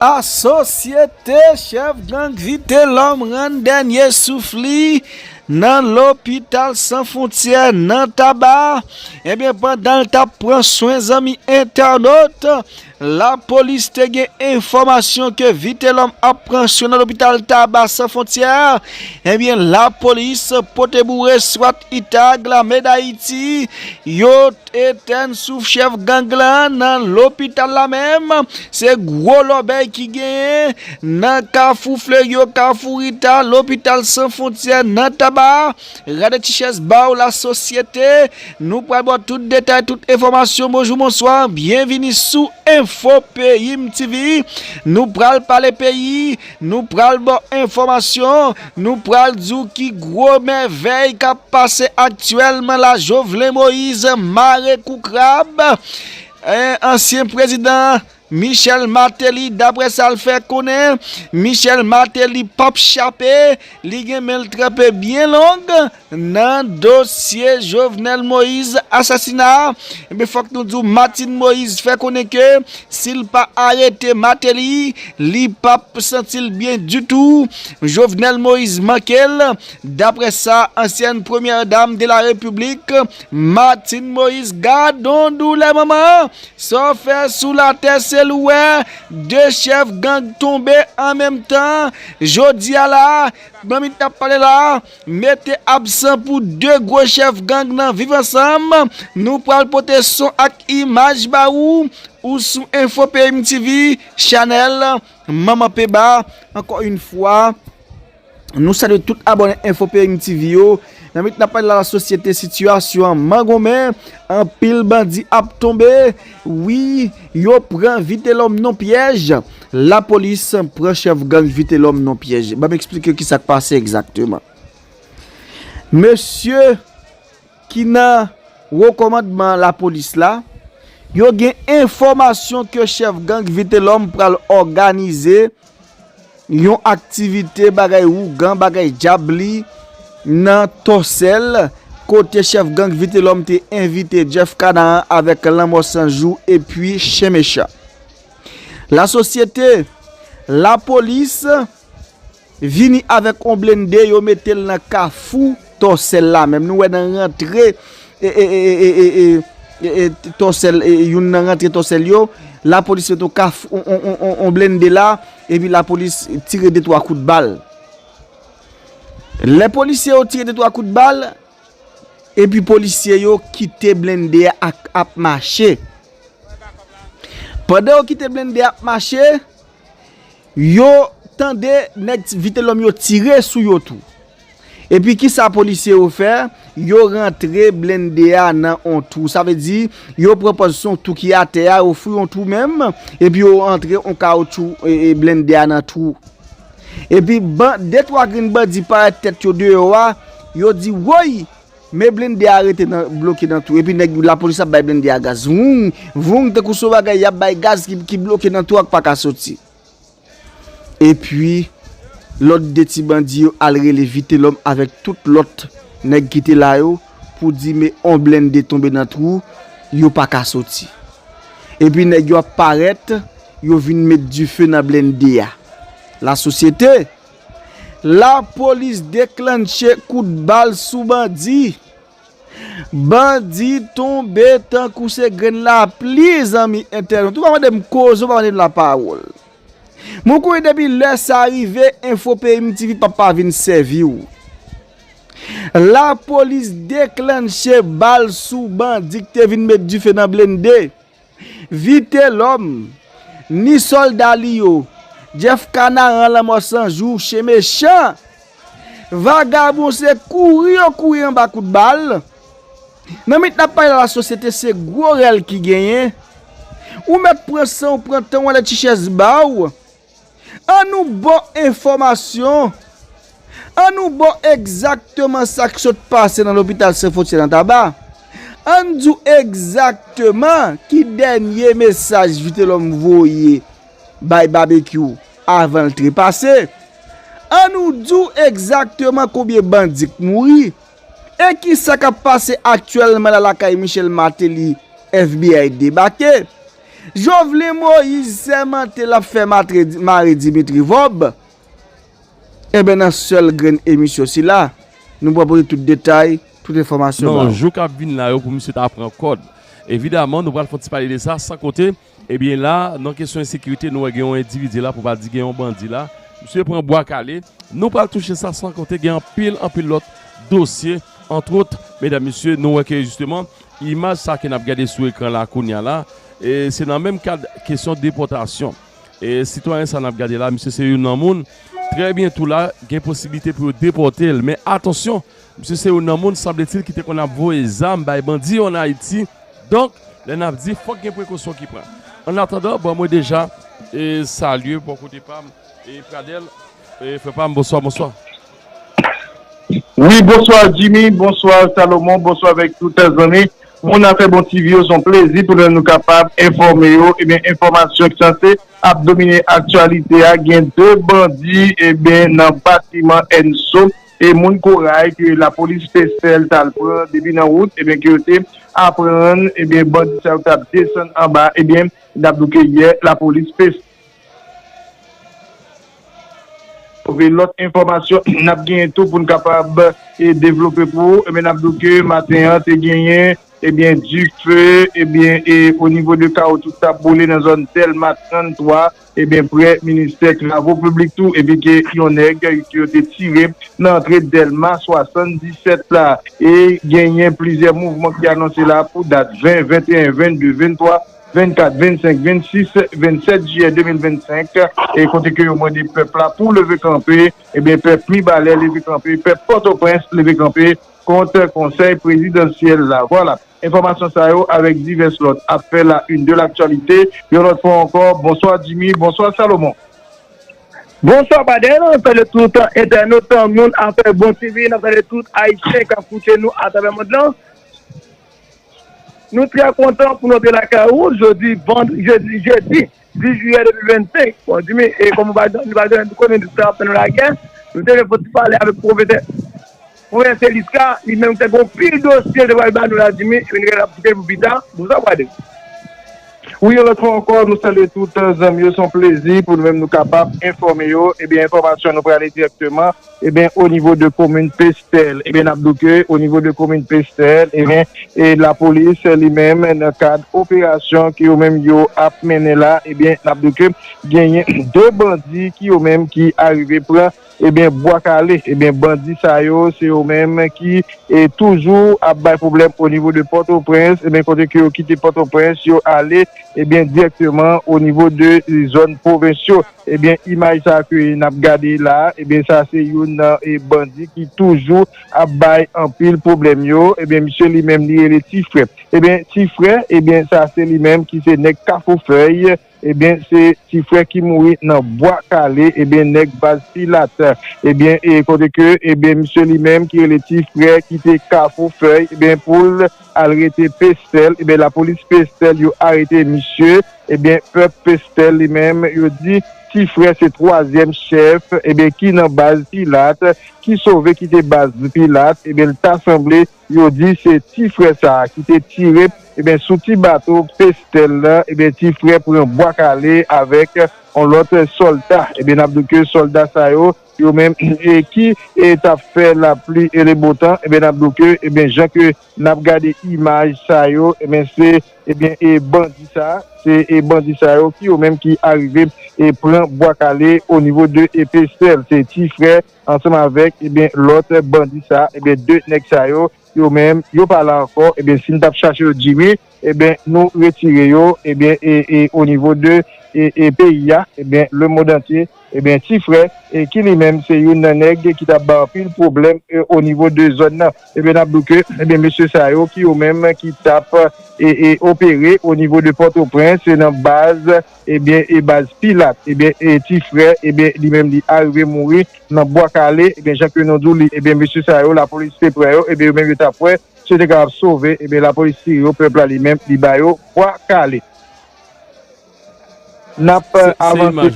A Sosyete chèf gang Vitelòm rann dènye souf li nan lopital san fontyè nan Taba, ebyen pandan l tap pran swen zanmi entènot, lapolis te gen enfòmasyon ke Vitelòm ap pran swen nan lopital Taba san fontyè, ebyen lapolis pote boure swat itag lame dayiti yo. Etèn souf chèf gang la nan lopital la menm se gwo lòbèy ki genyen nan kafou fleryo kafou rita lopital san fontyè nan taba rade ti chèz baw la sosyete nou pral baw tout detay tout enfòmasyon bonjou bonswa byenvini sou enfo peyim tv nou pral pale peyi Nou pral ba w enfòmasyon, nou pral di w ki gwo mèvèy k ap pase aktyèlman la Jovelin Moise mare kou krab ansyen prezidan Michel Martelly daprè sa l fè konnen Michel Martelly p ap chape li gen men l tranpe byen long. Nan dosye Jovenel Moise asasina a, enben fòk nou di w Martine Moise fè konnen ke si l pa arete Martelly, li pa p santi l byen ditou. Jovenel Moise manke l, daprè sa ansyèn premyè dam de la repiblik Martine Moise gadon doulè manman, sa w fè sou latè se l ou wè, 2 chèf gang tonbe an menm tan, jodi a la a, manmit n ap pale la a. Mete absan pou 2 gwo chèf gang nan viv ansanm, nou pral pote son ak imaj ba ou, ou sou info peyim TV chanèl manman peba, ankò yn fwa nou salye tout abòne info peyim TV yo, nan minit nap pale la la sosyete sitiyasyon an mangonmen, anpil bandi ap tonbe. Wi yo pran vitelom non pyèj. La police pran chef gang vitelom non pyèj banm explike ki sak pase exactement mesye ki nan wo komandman la police la yo gen enfomasyon ke chef gang vitelom pral oganize Yon aktivite bagay ougan bagay djab li nan Tòsèl, kote chèf gang Vitelòm te envite Jeff Canaan avèk Lanmò San Jou epi Chen Mechan. Lasosyete, Lapolis vini avèk on blennde yo mete l nan Kafou, Tòsèl la menm nou wè nan rantre tòsèl youn nan rantre tòsèl yo lapolis met yon kaf yon blende la epi lapolis tire de twa kout bal lè polisye yo tire de twa kout bal epi polisye yo kite blende a ap mache pandan yo kite blende a ap mache Yo tande nèg vitelòm yo tire sou yo tou. Epi kisa polisye yo fè? Yo rantre blende a nan on twou. Sa vle di, yo pran pòz son twou ki atè a, yo fouye on twou menm, epi yo antre on kawoutchou blende a nan twou. Epi, de twa grenn bandi parèt tèt yo deyò a, yo di, woy! Men blende a rete nan bloke nan tou epi nèg lapolis ap bay blende a gaz voung voung tankou son bagay yap bay gaz ki bloke nan tou ak paka soti epi lòt 2 ti bandi yo al rele vitelòm avèk tout lòt nèg ki te la yo pou di me on blende tonbe nan twou yo paka soti epi nèg yo ap parèt yo vin met dife nan blende a lasosyete. Lapolis deklannche kout bal sou bandi. Bandi tonbe tankou se grenn lapli zanmi entènot. Ou pa mande m koze, ou pa mande m lapawòl. Mwen konnen depi lè sa rive, Enfo Peyim TV pap pa vin sèvi w. Lapolis deklannche bal sou bandi k te vin met dife nan blennde. Vitelòm, ni sòlda li yo, Jeff Kanaran lanmò san jou, chen mechan! Vagabon se kouri yo kouri anba kout bal. Nan minit n ap pale la lasosyete se gwo rèl ki genyen. Ou mèt pran san w, pran tan w ale ti chèz ba w. An nou bo enfòmasyon, an nou bo egzakteman sa k sot pase nan lopital San Fwontyè nan Taba, an n di w egzakteman ki dènye mesaj Vitelòm voye bay Babekyou avan l trepase, an nou di w egzakteman konbyen bandi k mouri, e kisa k ap pase aktyèlman la lakay Michel Martelly FBI debake. Jovelin Moise sèmante l ap fè mare Dimitri Vob, enben nan sèl grenn emisyon sila, nou pral pote tout detay, tout enfòmasyon ba ou. Nan jou k ap vin la yo pou misye ta pran kòd. Evidaman, nou pral fè yon ti pale de sa, san konte, ebyen la, nan kesyon ensekirite, nou wè gen yon endividi la, pou pa di gen yon bandi la, misye pran bwa kale, nou pral touche sa, san konte gen anpil, anpil lòt dosye, antwot, medam mesye, nou wè ke jisteman, Imaj sa ke n ap gade sou ekran la kounya la, se nan menm kad kesyon depòtasyon. Sitwayen sa n ap gade la, misye se youn nan moun, trè byento la, gen posiblite pou yo depòte l. Men atansyon, misye se youn nan moun, sanbletil, ki te konn ap voye zam bay bandi yo ann Ayiti. Donk, lè n ap di, fòk gen prekosyon ki pran. Ann atandan, bon, mwen deja salye bò kote pa m, Pradèl, frè pa m, bonswa, bonswa. Wi bonswa Jimmy bonswa Salomon bonswa avèk tout zanmi moun afè bon TV yo son plezi pou nou kapab enfòme yo ebyen enfòmasyon ki sanse ap domine aktyalite a gen 2 bandi ebyen nan batiman Enso e moun koray ke lapolis te sèl tal pran depi nan wout ebyen ke yo te aprann ebyen bandi sa yo tap desann anba ebyen nap di w ke yè lapolis te Twouve lòt enfòmasyon n ap genyen tou pou n kapab devlope pou ou. N ap di w ke maten an te genyen ebyen dife ebyen onivo de kawo tout sa boule nan zòn Dèlma 33 ebyen prè ministè travo piblik tou epi ke yon nèg ke yo te tire nan antre Dèlma 77 la e genyen plizyè mouvman ki anonse la pou dat 20, 21, 22, 23. 24, 25, 26, 27 jiyè 2025 e kote ke yo mande pèp la pou leve kanpe ebyen pèp Mibalè leve kanpe, pèp Pòtoprens leve kanpe kont konsèy prezidansyèl la vwala enfòmasyon sa yo avèk divès lòt ap fè la une de l'actualité yon lòt fwa ankò bonswa Djimy bonswa Salomon. Bonswa Baden, nap salye tout entènot moun afè bon TV, nap salye tout ayisyen kap koute nou atravè mond lan. Nou trè kontan pou nou te lakay ou jodi jedi 10 jiyè 2025. Bon Jimmy, e kòm ou pa janm, nou pa janm konnen nou ta fè nou lakè, nou te gen pou ti pale avèk pwofesè Pwofesè Liska, li menm te gon pil dosye l te pral ba nou la Jimmy, epi nou gen ap kite pou pi ta. Bonswa Pradel. Wi yon lòt fwa ankò nou salye tout zanmi yo, se yon plezi pou nou menm nou kapab enfòme yo, ebyen enfòmasyon nou prale dirèkteman. Ebyen o nivo de komin Pestèl, ebyen nap di w ke o nivo de komin Pestèl ebyen e lapolis li menm nan kad operasyon ke yo menm yo ap mennen la ebyen nap di w ke genyen 2 bandi ki yo menm ki arive pran ebyen Bwa Kale ebyen bandi sa yo se yo menm ki e toujou ap bay pwoblèm o nivo de Pòtoprens ebyen kote ke yo kite Pòtoprens yo ale ebyen dirèkteman o nivo de zòn pwovens yo. Ebyen imaj sa ke nap gade la ebyen sa se youn nan bandi ki toujou ap bay anpil pwoblèm yo ebyen misye li menm li rele ti frè ebyen ti frè ebyen sa se li menm ki se nèg kafou fèy ebyen se ti frè ki mouri nan bwa kale ebyen nèg baz pilat ebyen kote ke ebyen misye li menm ki rele ti frè ki te kafou fèy ebyen poul al rete pestèl ebyen la polis pestèl yo arete misye ebyen pèp pestèl li menm yo di ti frè se twazyèm chèf ebyen ki nan baz pilat ki sove kite baz pilat ebyen l ta sanble yo di se ti frè sa ki te tire ebyen sou ti bato pestèl la ebyen ti frè pran bwa kale avèk on lòt sòlda ebyen n ap di w ke sòlda sa yo. yo menm ki tap fè lapli e le beau temps ebyen nap di w ke ebyen jan ke nap gade imaj sa yo ebyen se ebyen e bandi sa se e bandi sa yo ki yo menm ki arive e pran bwa kale o nivo de e pestel se ti frè ansanm avèk ebyen lòt bandi sa ebyen de nèg sa yo yo menm yo pa la ankò ebyen si n tap chache yo di wi. Ebyen nou retire yo ebyen e o nivo de e peyi a ebyen le mond antye ebyen ti frè e ki li menm se youn nan nèg ki tap bay anpil pwoblèm e o nivo de zòn nan ebyen nap di w ke ebyen mesye sa yo ki yo menm ki tap e e opere o nivo de pòtoprens e nan baz ebyen e baz pilat ebyen e ti frè ebyen li menm li arive mouri nan bwa kale ebyen jan ke nou di w li ebyen mesye sa yo lapolis te pran yo ebyen yo menm yo tap wè. Se te ka ap sove ebyen lapolis tire yo pèp la li menm li ba yo bwa kale nap avanse.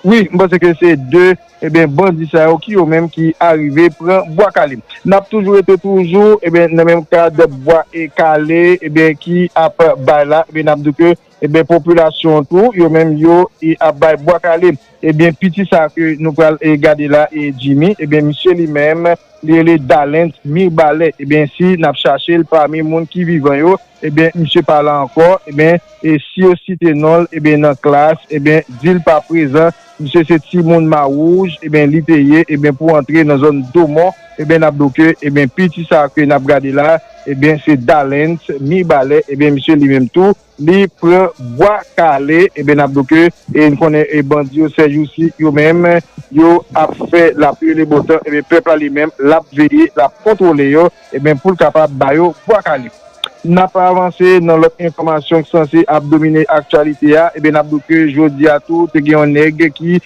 Wi m panse ke se 2 ebyen bandi sa yo ki yo menm ki arive pran bwa kale nap toujou rete toujou ebyen nan menm kad bwa kale ebyen ki ap bay la ebyen nap di ke. Ebyen popilasyon an tou yo menm yo ap bay bwa kale. Ebyen piti sa ke nou pral gade la Jimmy ebyen misye li menm li rele Dalens Mirbalais ebyen si nap chache l pami moun ki vivan yo ebyen misye pa la ankò ebyen si yo site non l ebyen nan klass ebyen di l pa prezan Misye se ti moun ma wouj eben li te ye eben pou antre nan zòn domon eben nap do ke eben piti sa ke nap gade la eben se dalens mibalè eben misye li menm tou li pran bwa kale eben nap do ke e n konnen e bandi yo sèjousi yo menm yo ap fè lapli e le bon tan eben pèp la li menm lap veye lap kontwole yo. Ebyen poul kapab ba yo bwa kale. Nap avanse nan lòt enfòmasyon k sanse ap domine aktyalite a, ebyen nap di w ke jodia tou te gen yon nèg ki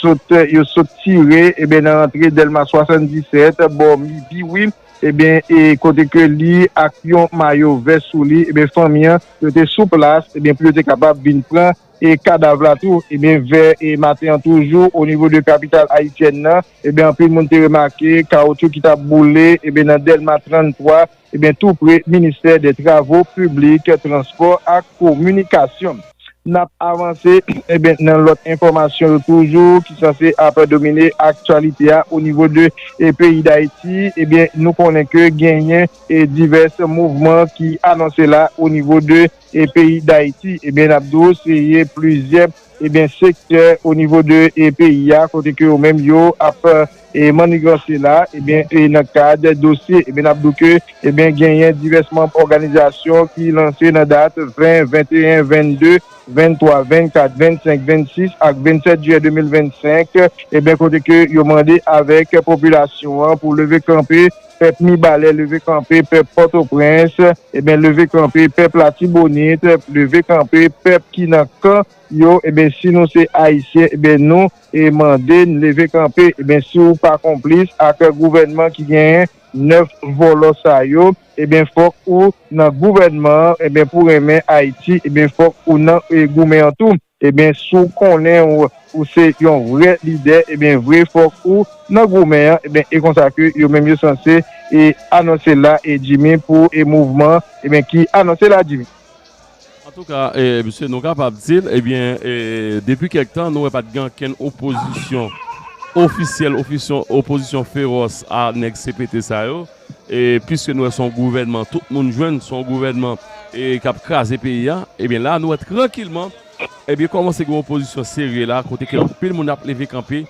sot yo sot tire ebyen nan rantre Dèlma 77 bò midi wi ebyen e kote ke li ak yon mayo vè sou li ebyen fanmi an yo te sou plas ebyen pou yo te kapab vin pran e kadav la tou ebyen vè e maten an toujou o nivo de kapital ayisyèn nan. Ebyen anpil moun te remake kawotchou ki tap boule ebyen nan Dèlma 33 ebyen tou pre ministè dè travo piblik, transpò ak kominikasyon. Nap avanse ebyen nan lòt enfòmasyon yo toujou ki sanse ap domine aktyalite a o nivo de peyi Dayiti ebyen nou konnen ke genyen divès mouvman ki anonse la o nivo de e peyi dayiti ebyen nap di w se ye plizyè ebyen sektè o nivo de e peyi a kote ke yo menm yo ap e maniganse la ebyen e nan kad dosye ebyen nap di w ke ebyen genyen divès manb òganizasyon ki lanse nan dat 20 21 22 23 24 25 26 ak 27 jiyè 2025 ebyen kote ke yo mande avèk popilasyon an pou leve kanpe Pèp Mibalè leve kanpe pèp Pòtoprens ebyen leve kanpe pèp Latibonit leve kanpe pèp ki nan kan yo ebyen si nou se Ayisyen ebyen nou mande n leve kanpe ebyen si w pa konplis ak gouvènman ki genyen 9 vòlò sa yo ebyen fòk ou nan gouvènman an ebyen pou renmen Ayiti ebyen fòk ou nan goumen an tou. Ebyen si w konnen w ou se yon vrè lidè ebyen vre fòk ou nan goumen an ebyen e konsa ke yo menm yo sanse e anonse la e Jimmy pou e mouvman ebyen ki anonse la Jimmy. Antouka e msye nou kapab di l ebyen e depi kèk tan nou wè pat gen ankenn opozisyon ofisyèl ofisyon opozisyon fewòs a nèg CPT sa yo. E piske nou wè son gouvènman tout moun jwenn son gouvènman kap kraze peyi a ebyen la nou wè trankilman ebyen kòmanse gen opozisyon serye la kote ke anpil moun ap leve kanpe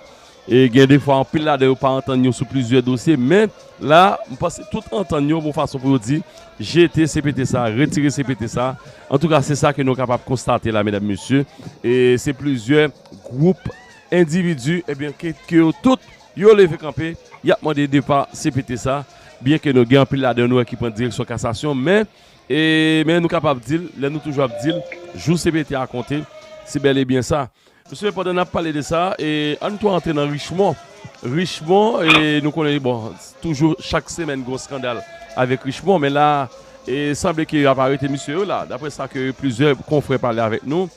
e gen defwa anpil ladan yo pa antann yo sou plizyè dosye men la m panse tout antann yo bon fason pou yo di jete cpt sa retire cpt sa antouka se sa ke nou kapab konstate la medam mesye e se plizyè gwoup endividi ebyen ke yo tout Yo leve kanpe, y ap mande depa cpt sa, byen ke nou gen anpil ladan nou wè ki pran direksyon kasasyon, men, e, men nou kapab di l, lè nou toujou ap di l, jou cpt a konte, se bèl e byen sa. Mesye, pandan n ap pale de sa, e, an n tou antre nan Richemond. Richemond, e, nou konnen, bon, toujou chak semèn gen yon skandal avèk Richemond, men la a, e, sanble ke y ap arete mesye yo la, daprè sa ke plizyè konfrè pale avèk nou.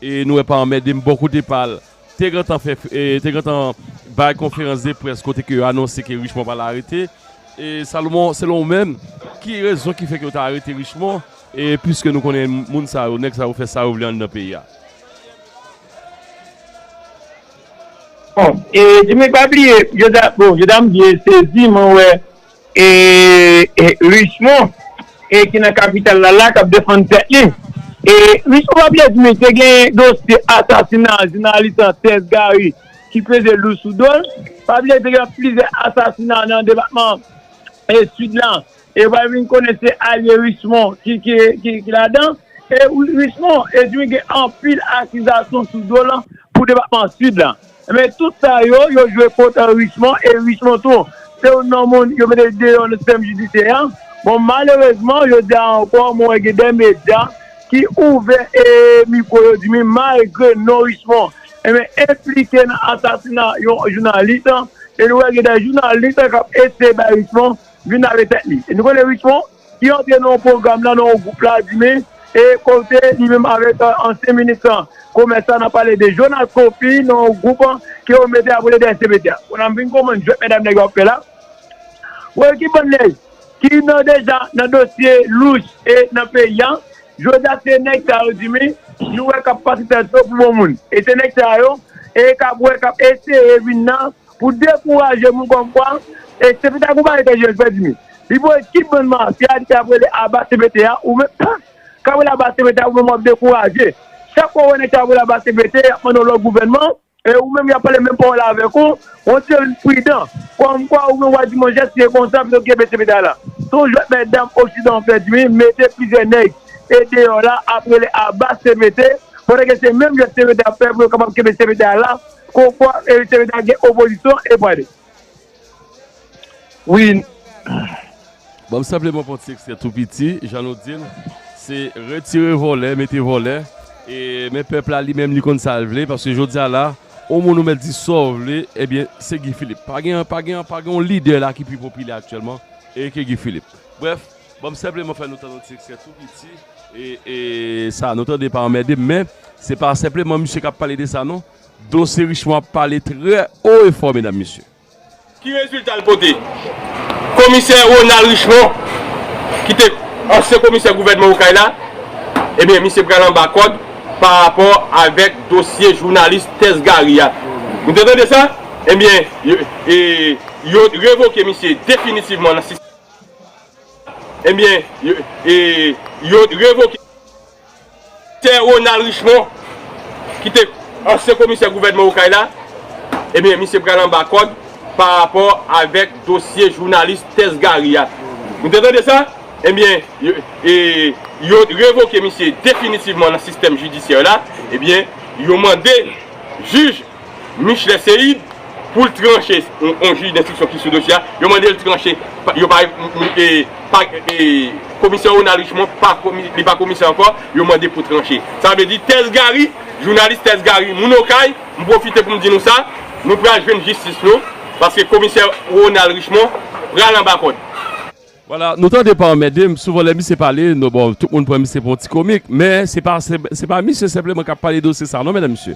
E nou wè pa anmède m bò kote pa l te gentan fè te gentan bay konferans de près kote ke yo anonse ke Richemond pral arete e Salomon selon ou menm ki rezon ki fè ke yo ta arete Richemond e piske nou konnen moun sa yo nèg sa yo fè sa yo vle anndan peyi a. Bon e Dimitri pa bliye Jodha bon Jodha m byen sezi mwen wè. E Richemond e ki nan kapital la la kap defann tèt li. E Richemond pa byen di misye gen dosye asasina jounalis lan Serge Garry ki peze lou sou dol. Pa byen di gen plizyè asasina nan depatman Sid lan. E wap vin konnen se alye Richemond ki ladan. E Richemond e di gen anpil akizasyon sou dol pou depatman Sid lan. Men tout sa yo, yo jwe kont Richemond e Richemond tou se youn nan moun yo mete deyò nan sistèm jidisyè a. Bon malerezman jodi a ankò mwen wè gen de medya ki ouvè mikwo yo di mi malgre non Richemond enben enplike nan asasina yon jounalis e nou wè gen de jounalis k ap eseye bay Richemond vin lave tèt li. E nou konnen Richemond? ki antre nan yon pwogram la, nan yon gwoup la, di men, e kote li menm avèk ansyen minis komès la, n ap pale de Jonas Kofi, nan yon gwoup ke yo mete ap rele DSCPT a. Kounye a m vin konprann jwèt medam nèg yo ap fè la. Wè ki bann nèg ki nan deja nan dosye louch e nan peyi a, jodi a se nèg sa yo di men, nou wè k ap pase tèt yo pou bon moun. E se nèg sa yo e k ap wè, k ap eseye vin nan. Pou dekouraje moun kòm mwen, e CPT a konpare tèt yo, frè Jimmy. Li voye tout bann mafya li te ap rele aba CPT a, ou menm tank k ap rele aba CPT a ou menm w ap dekouraje. Chak fwa ou wè nèg sa ap rele aba CPT, y ap mande yon lòt gouvènman, e ou menm y ap pale menm pawòl avèk ou, on dirait li pridan. Kòmkwa ou menm w a di monchè si se konsa pito kenbe CPT a la. Se yon jwèt mètdam oksidan an frè Jimmy mete plizyè nèg e deyò la ap rele aba CPT pandan ke se menm jwèt CPT ap fè pou yo kapab kenbe CPT a la Kon fwa Erik te mete al gen opozisyon e pwale wi. Banm senpleman pran ti ekstrè tou piti jan nou dil se retire vòlè mete vòlè e men pèp la li menm li konn sal vle paske jodi a la on moun ou mèt di saw vle ebyen se Guy Philippe pa gen pa gen pa gen yon lidè la ki pi popilè aktyèlman ke Guy Philippe brèf Bon m senpleman fè nou tande yon ti ekstrè tou piti e sa nou tande pa anmède m men se pa senpleman misye k ap pale de sa non Dosye Richemond ap pale trè o e fò medam mesye. Ki rezilta l pote? Komisè Ronald Richemond ki te ansyen komisè gouvènman Okay la ebyen misye pral anba kòd pa rapò avèk dosye jounalis Tess Gary a nou te tande sa? ebyen yo revoke misye definitivman nan sistèm Ebyen yo revoke Sè Ronald Richemond ki te ansyen komisè gouvènman Okay la, ebyen misye pral anba kòd pa rapò avèk dosye jounalis Tess Garry a. Nou te tande sa? Ebyen yo revoke misye definitivman nan sistèm jidisyè la, ebyen yo mande jij. Michelet Seïde pou l tranche yon jij denstriksyon ki sou dosye a, yo mande l tranche yo pa komisè Ronald Richemond li pa komisè ankò yo mande pou tranche sa vle di Tès Gary jounalis Tès Gary moun Okay m pwofite pou m di nou sa nou pral jwenn jistis nou paske komisè Ronald Richemond pral anba kòd. Voilà nou tande pa anmède m souvan lè misye pale bon tout moun pran misye pou yon ti komik men se pa misye senpleman k ap pale dosye sa non medam mesye.